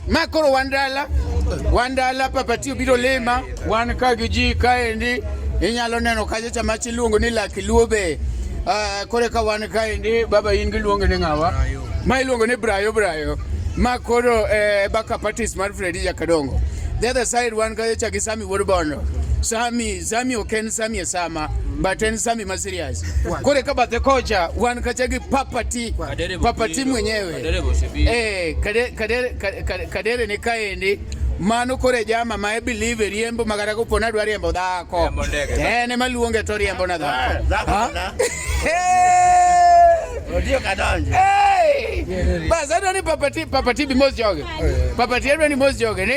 makolo wandala wandala papatio biro lima wan ka gi ji kaendi inyalo neno kacha chama chiluongo ni lakiluo be uh, ah, kore ka wan kaendi baba in giluongo ni ng'awa ma iluongo ni brayo brayo ma koro eh, baka partis mar fredi jakadongo the other side wan kacha cha gi sami wuod bondo sami sami ok en sami e sama but en sami ma serious kore ka bathe kocha wan kacha gi papati papati mwenyewe Eh, kadere ni kaendi mano kore jama ma e believe riembo magara ko pona dwa riembo dhako eh ne maluonge to riembo na dhako ah, odio kadonje bas adwa ni papati papati bi mos joge papati adwa ni mos joge ni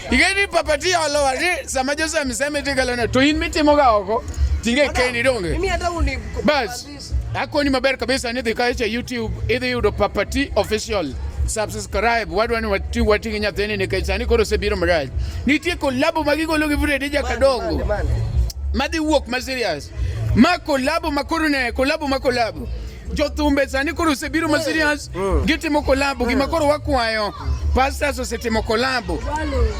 Igeni papati olo wali sama Jose amesema eti kalona to in mitimo ga oko tinge keni donge. Mimi hata uni bas. Ako ni maber kabisa ni dhika cha YouTube idhi yudo papati official. Subscribe wadwa ni wati wati nyathini ni kaisa ni koro sebiro mraj. Nitie kolabo magigolo gi Fred ja kadongo. Madhi wuok ma serious. Ma kolabo makoro ne kolabo ma kolabo. jothumbe sani koro osebiro ma serious mm. gitimo kolabo gima koro wakwayo pastors osetimo kolabo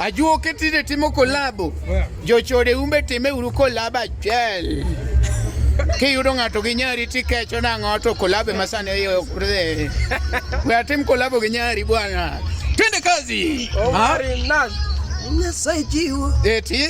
ajuoke tinde timo kolabo jochode umbe time uru kolabo achiel kiyudo ng'ato gi nyari tikecho nang'o to kolabo ema sani oyokre we atim kolabo gi nyari bwana twende kazi Omari, oh, Nyasaye jiwo eti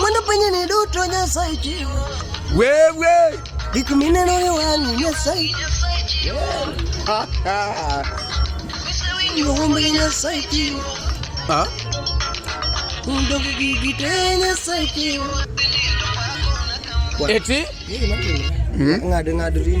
Mwana penye ni duto nyasaye chiwo. Wewe. Gik mineno ni wang'i nyasaye. Ha ha. Ng'ombe nyasaye chiwo. Ha? Undo gigi te nyasaye chiwo. Eti? Ng'ado ng'ado rinda.